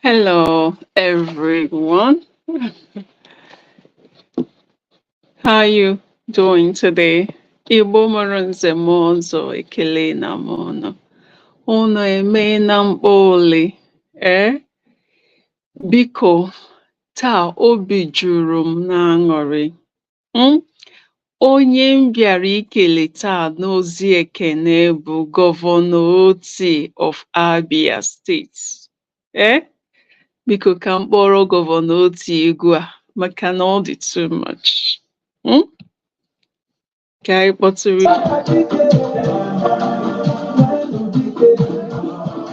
Hello, everyone. How are you doing today? Igbo mụrụ nze mụọ ọzọ ekelena m unu. Unu emeena mkpa ole? Ee, eh? biko taa obi juru m n'aṅụrị. um Onye m bịara ikele taa n'ozi ekene bụ Gọvanọ Otti of Abia steeti ee eh? biko ka m kpọrọ Gọvanọ Otti egwu a maka na ọ dị too much hmm? ka anyị kpọtụrụ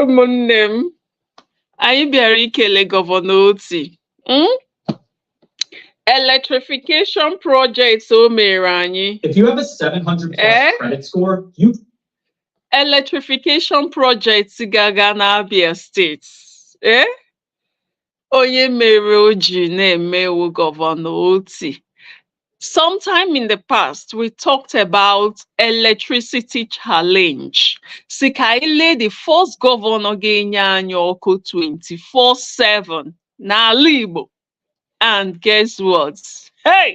ụmụnne m anyị bịara ikele gọvanọ Otti hmm? electrification project o mere anyị If you have a 700 plus Eh? credit score, you electrification project gaga n'Abia steeti ee onye mere o ji na-eme wụ gọvanọ Otti sometime in the past we talked about electricity challenge si ka anyị lee the first gọvanọ ga-enye anyị ọkụ 24/7 n'ala Igbo and guess what hey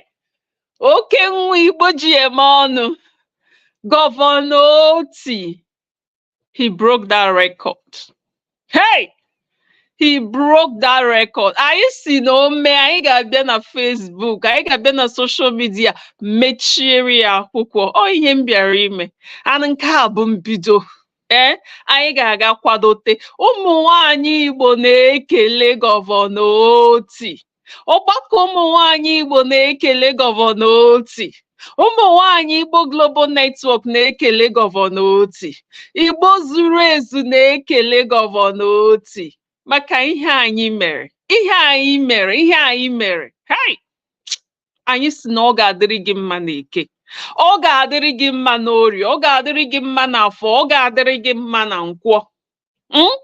oke nwa Igbo ji eme ọnụ gọvanọ Otti he broke that record hey he broke that record anyị si na o mee anyị ga-abịa na Facebook anyị ga-abịa na social media mechiere ya akwụkwọ ọ ihe m bịara ime and nke a bụ mbido ee eh, anyị ga-aga kwadote ụmụ nwanyị Igbo na-ekele gọvanọ Otti ọgbakọ ụmụ nwanyị Igbo na-ekele gọvanọ Otti ụmụ nwanyị Igbo Global Network na-ekele gọvanọ Otti Igbo zuru ezu na-ekele gọvanọ Otti maka ihe anyị mere ihe anyị mere ihe anyị mere hai anyị si na ọ ga-adịrị gị mma na eke ọ ga-adịrị gị mma n'orie ọ ga-adịrị gị mma n'afọ ọ ga-adịrị gị mma na nkwọ Mm?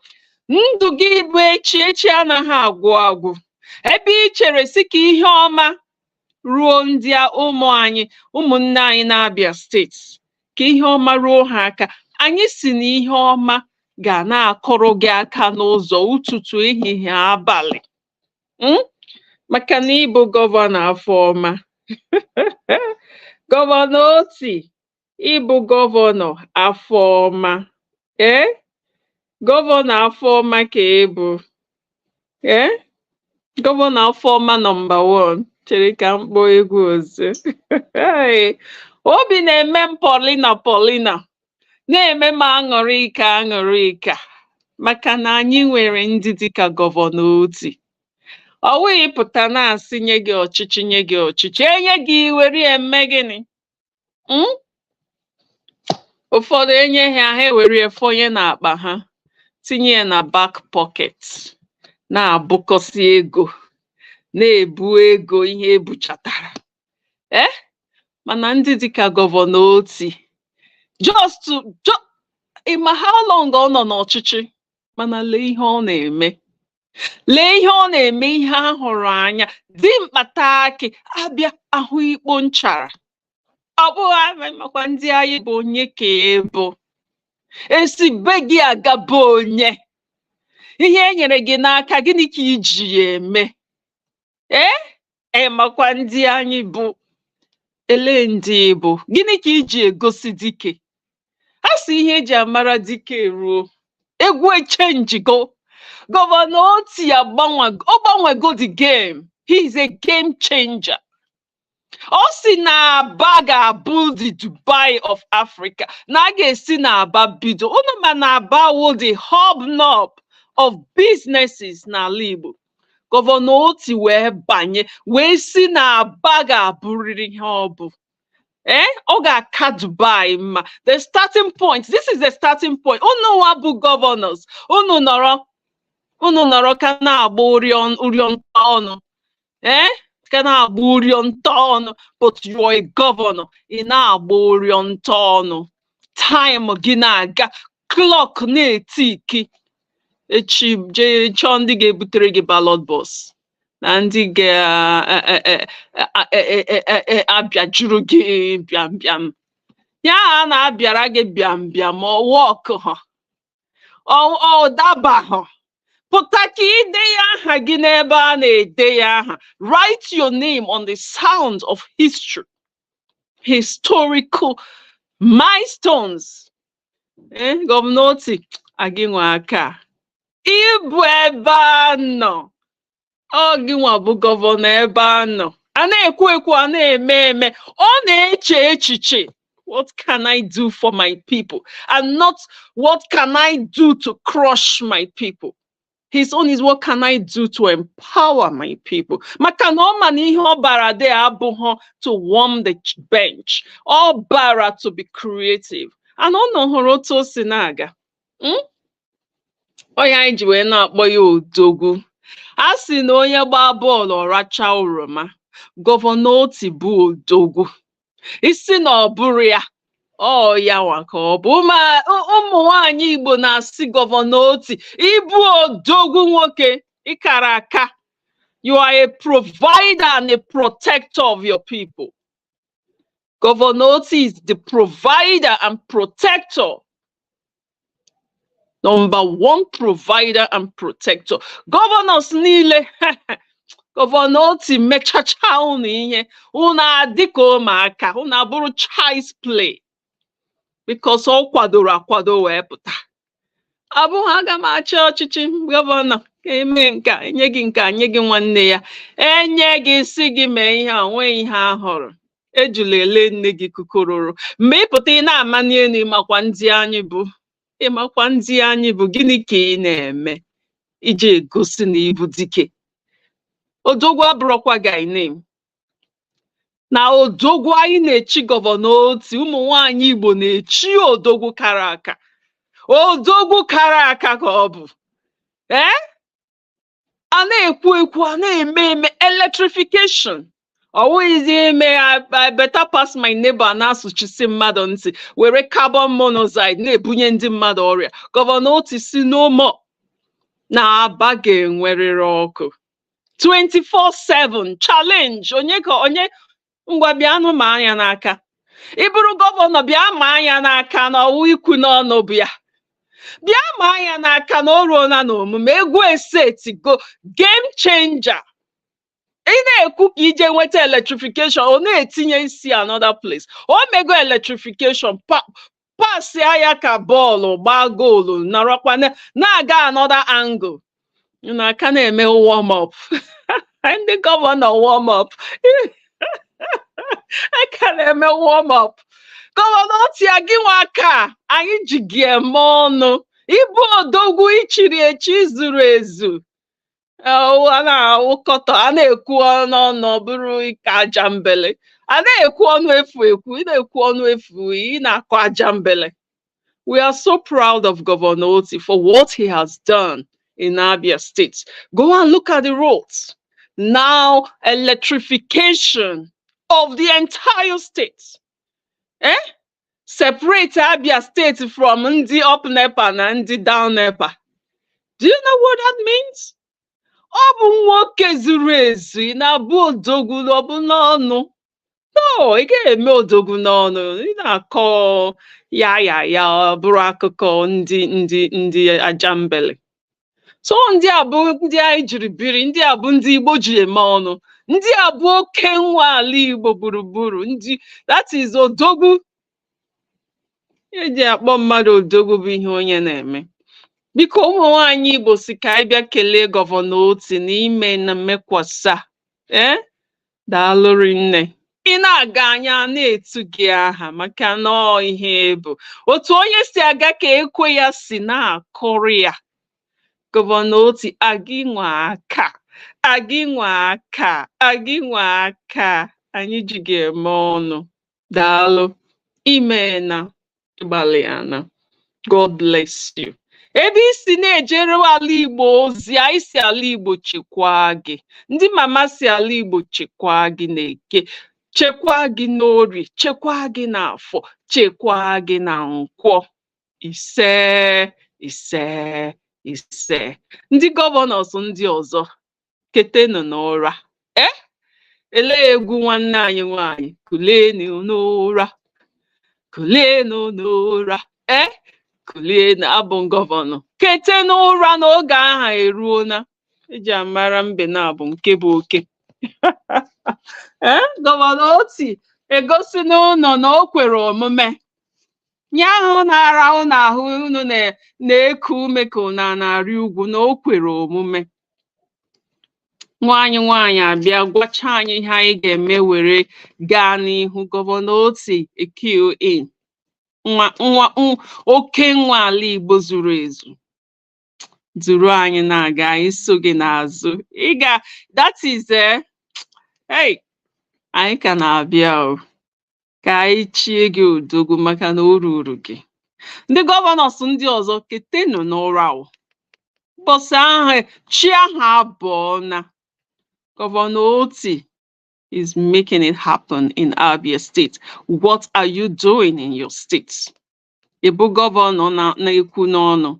ndụ gị bụ echi echi anaghị agwụ agwụ ebe ị chere si ka ihe ọma ruo ndị a ụmụ anyị ụmụnne anyị n'Abia steeti ka ihe ọma ruo ha aka anyị si na ihe ọma ga na-akụrụ gị aka n'ụzọ ụtụtụ ehihie abalị Mm? maka na ị bụ gọvanọ afọ ọma gọvanọ Otti ị bụ gọvanọ afọ ọma ee gọvanọ afọ ọma ka ị bụ ee gọvanọ afọ ọma nọmba wan chere ka m kpọọ egwu ọzọ obi na-eme m polina polina na-eme m aṅụrịka aṅụrịka maka na anyị nwere ndị dịka gọvanọ otti ọ wụghị pụta na-asị nye gị ọchịchị nye gị ọchịchị e nye gị i were eme gịnị Mm? ụfọdụ e nye ha ha ewere ya fọnye n'akpa ha tinye ya na back pocket na-ebukọsị ego na-ebu ego ihe e buchatara ee eh? mana ndị dịka gọvanọ otti just ị ma how long ọ nọ n'ọchịchị mana lee ihe ọ na-eme lee ihe ọ na-eme ihe a hụrụ anya dimkpa taa akị abịa ahụ ikpo nchara ọ bụghị anyị makwa ndị anyị bụ onye ka ị bụ e si be gị aga be onye ihe e nyere gị n'aka gịnị ka i ji ya eme ee ị makwa ndị anyị bụ ele ndị bụ gịnị ka i ji egosi dike ha sị ihe e ji amara dike ruo egwu echenjigo gọvanọ otti agbanwe ọ gbanwego the game he is a game changer ọ sị na aba ga-abụ the dubai of africa na a ga-esi na aba bido unu ma na aba wụ the hobnob of businesses n'ala igbo gọvanọ otti wee banye wee sị na aba ga-abụrịrị ihe ọ bụ ee eh? ọ ga-aka dubai mma the starting point this is the starting point unu nwa bụ gọvanọs unu nọrọ unu nọrọ ka na-agba ụrịọ nta ọnụ ee eh? ka na-agba ụrịọ nta ọnụ but you are a governor ị na-agba ụrịọ nta ọnụ time gị na-aga clock na-etiki echi jee chọọ ndị ga-ebutere gị ballot box na ndị ga-abịajuru gị bịam bịam ya ha na-abịara gị bịam bịam ọ work ha ọ dabaghọ pụta ka i de ya aha gị n'ebe a na-ede ya aha write your name on the sand of history historical milestones eh, gọvanọ otti a gị nwe aka ị bụ ebe a nọ ọ gịnwa bụ gọvanọ ebe a nọ a na-ekwu ekwu a na-eme eme ọ na-eche echiche what can I do for my people and not what can I do to crush my people his own is what can I do to empower my people maka na ọ ma na ihe ọ bara there abụghọ to warm the bench ọ bara to be creative and unu hụrụ otu o si na-aga Hmm? Ọ ya anyị ji wee na-akpọ ya odogwu. A sị na onye gbaa bọọlụ ọ rachaa oroma, gọvanọ Otti bụ odogwu. Ị sị na ọ bụrọ ya, ọ ya nwa ka ọ bụ Ma- ụ- ụmụ nwaanyị Igbo na-asị gọvanọ Otti, ị bụ odogwu nwoke, ị kara aka. You are a provider and a protector of your people. Governor Otti is the provider and protector. Number one provider and protector. Governors niile gọvanọ Otti mechacha unu ihe unu adị ka ụmụaka unu abụrụ child's play because ọ kwadoro akwado wee pụta ọ bụghị aga m achị ọchịchị gọvanọ ka e mee nke a, e nye gị nke a, nye gị nwanne ya e nye gị sị gị mee ihe a, o nweghị ihe a hụrụ ejula ele nne gị kukororo mgbe ị pụta ị na-amani elu ị makwa ndị anyị bụ ị makwa ndị anyị bụ gịnị ka ị na-eme iji egosi na ị bụ dike odogwu abụrọkwa guy name na odogwu anyị na-echi gọvanọ Otti ụmụ nwaanyị Igbo na-echi odogwu kara aka odogwu kara aka ka ọ bụ ee a na-ekwu ekwu a na-eme eme electrification ọ wụghịzi ime I better pass my neighbor na-asụchisi mmadụ ntị were carbon monoxide na-ebunye ndị mmadụ ọrịa gọvanọ Otti sị no more na Aba ga-enwerịrị ọkụ 24/7 challenge onye ka onye ngwa bịanụ ma anya n'aka ị bụrụ gọvanọ bịa ma anya n'aka na ọ wụ ikwu n'ọnụ bụ ya bịa ma anya n'aka na o ruola n'omume egwu esetigo game changer ị na-ekwu ka i je nweta electrification ọ na-etinye isi another place o mego electrification pa- pasịa ya ka bọọlụ gbaa goolu nọrọkwa na- na-aga another angle na a ka na-eme warm up ndị gọvanọ warm up a ka na-eme warm up gọvanọ Otti gị nwa ka anyị ji gị eme ọnụ ị bụ odogwu e chiri echi zuru ezu a na-awụkọtọ a na-ekwu ọnụ ọnụ ọ bụrụ ịkọ ajambele a na-ekwu ọnụ efu ekwu ị na-ekwu ọnụ efu ị na-akọ ajambele we are so proud of Governor Otti for what he has done in Abia State go and look at the roads now electrification of the entire state eh? separate Abia State from ndị up NEPA na ndị down NEPA. Do you know what that means? Ọ bụ nwoke zuru ezu ị na-abụ odogwu ọ bụ n'ọnụ. No, ị gaghị eme odogwu n'ọnụ ị na-akọ ya ya ya ọ bụrụ akụkọ ndị ndị ndị ajambele. so ndị a bụ ndị anyị jiri biri ndị a bụ ndị Igbo ji eme ọnụ ndị a bụ oke nwa ala Igbo gburugburu ndị that is odogwu e ji akpọ mmadụ odogwu bụ ihe onye na-eme biko ụmụ nwaanyị Igbo sị ka anyị bịa kelee gọvanọ Otti na i meena mekwasa ee eh? Daalụ rinne. Ị na-aga anyị ana-etu gị aha maka na ọ ihe bụ otu onye si aga ka ekwe ya si na-akụrụ ya gọvanọ Otti agị nwa ka agị nwa ka agị nwa ka anyị ji ga-eme ọnụ daalụ i meena ị gbalịana God bless you ebe i si na-ejere ala igbo ozi anyị sị ala igbo chekwaa gị ndị mama sị ala igbo chekwaa gị n'Eke chekwaa gị n'Orie chekwaa gị n'Afọ chekwaa gị na Nkwọ ise ise ise ndị gọvanọs ndị ọzọ ketenụ n'ụra ee lee egwu nwanne anyị nwanyị kulienụ n'ụra kulienụ n'ụra e kulienụ abụ gọvanọ kete n'ụra na oge aha eruona e ji amara mbe n'abọ nke bụ oke ee gọvanọ Otti egosina ụnụ na o kwere omume ihe ahụ na-ara ụnụ ahụ unu na-eku ume ka unu na-arị ugwu na o kwere omume nwa anyị nwaanyị abịa gwacha anyị ihe anyị ga-eme were gaa n'ihu gọvanọ Otti thank you in nwa nwa n- oke nwa ala igbo zuru ezu duru anyị na-aga anyị so gị n'azụ ị ga that is eh, hey anyị ka na-abịa o ka anyị chie gị odogwu maka na o ruru gị ndị gọvanọs ndị ọzọ ketenụ n'ụra o ụbọchị ahụ chi ahụ abọọna gọvanọ Otti is making it happen in Abia State what are you doing in your state ị bụ gọvanọ na-ekwu n'ọnụ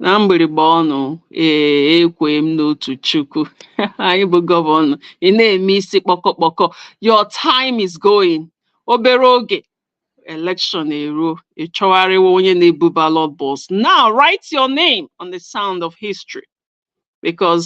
na mgbịrịgba ọnụ ee ekwe m n'otu chukwu anyị bụ gọvanọ ị na-eme isi kpọkọkpọkọ your time is going obere oge election eruo ị chọgharịwa onye na-ebu ballot box now write your name on the sound of history because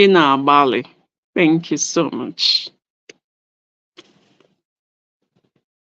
ị na-agbalị thank you so much